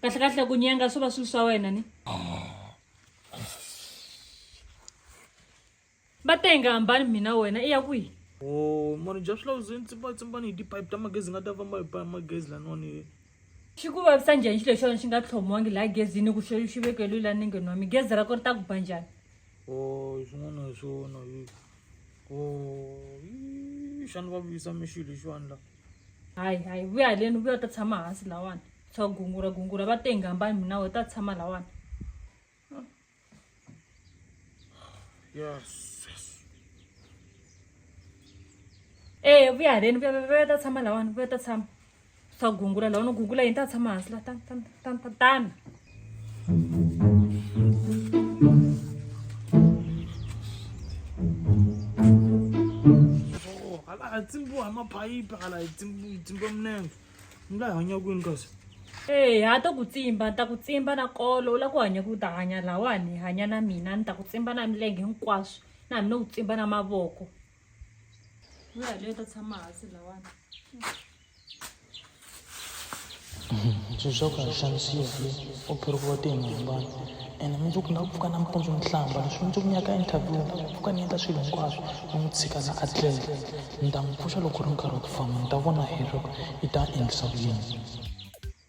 kahle kahle ku nyenga swi va swilo swa wena ni va te hi nga hambani mina wena i ya kwihi o oh, mani dya swi lavuze ni tsimbatsimbani hi tipipe ta magezi nga ta famba hi pa magezi laniwani xi ku vavisa njhani xilo xona xi nga tlhomiwangi laha gezini ku xi xi vekeliwi laha nengeni wa mi gezi ra ko ri ta ku ba njhani o oh, swin'wana hi swona o oh, xani va vuyisa mi xilo lexiwani laha hayi hayi vuya haleni vuya ta tshama hansi lawani swa gungula gungula va te ngambani mina we ta tshama lawani ee vuya haleni vuya ta tshama lawani vuya ta tshama swa gungula lawani gungula yini ta tshama hansi la tana tana tana tana ee ha ta ku tsimba ni ta ku tsimba na kolo u lava ku hanya ku u ta hanya lawani hanya na mina ni ta ku tsimba na milenge hinkwaswo na hambi no ku tsimba na mavoko Vuya hi leyi ta tshama hansi lawani. swilo swa ku ha xanisiwa u phirikiwa tinhambana ene mundzuku na ku pfuka nampundzu ni hlamba leswi mundzuku ni ya ka interview na ku pfuka ni endla swilo hinkwaswo ni n'wi tshika na a tlela ni ta n'wi pfuxa loko ku ri nkarhi wa ku famba ni ta vona hi ri i ta endlisa ku yini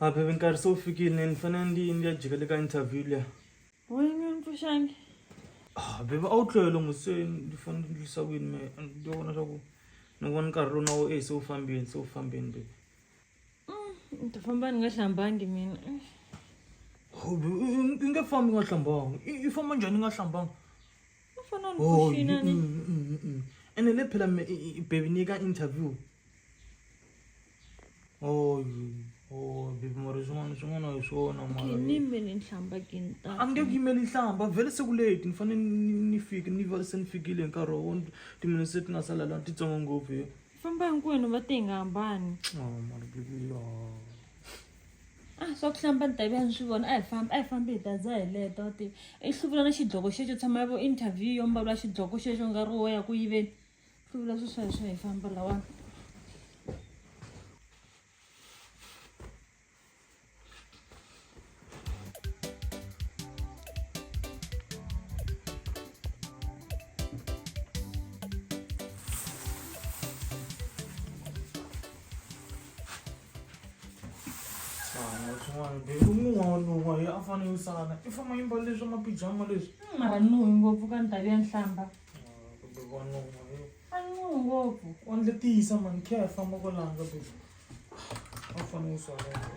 hape nkarhi se wu fikile ni fanele ndi ndi ya jika le ka interview liya wena ni pfuxangi bebe a wu tlwelo ngo se ndi fanele ndi ndlisa ku yini me ndi vona swa ku ni vona nkarhi lowu na wo e se wu fambeni se wu fambeni bebe ni ta famba ni nga hlambangi mina i nge fambi nga hlambanga i famba njhani i nga hlambanga u fanele u ni Oh, pushina yi- ni mm, mm, mm, mm. ene le phela mme i- i- baby ni ka interview Oh, yi- oh, baby mara swin'wana swin'wana hi swona mara ke ni mme ni nhlamba ke ni ta a ni nge ku yimeli nhlamba vhele se ku leti ni fanele ni ni fike ni va se ni fikile hi nkarhi wo timinete se ti nga sala la titsongo ngopfu yo famba hinkwenu va te hi nga hambani oh, mara baby, oh. a ah, swa ku hlamba ni tavi a ni swi vona a hi fambi a hi fambi hi ta dza hi leta ti i hluvula na xidloko xexo tshama vo interview yo mbalula xidloko xexo nga ri wo ya ku yiveni hluvula swi swa hi swa hi famba lawani swin'wana swin'wana be un'wana un'wana a fanele u sana i famba yimba leswi swa mapijama leswi hmm, mara nuhi ngopfu ka ndhawu ya nhlamba ah, kumbe vanun'wa a nuhi ngopfu u endle tiyisa mani khe a famba kwalanga be a fanele u sana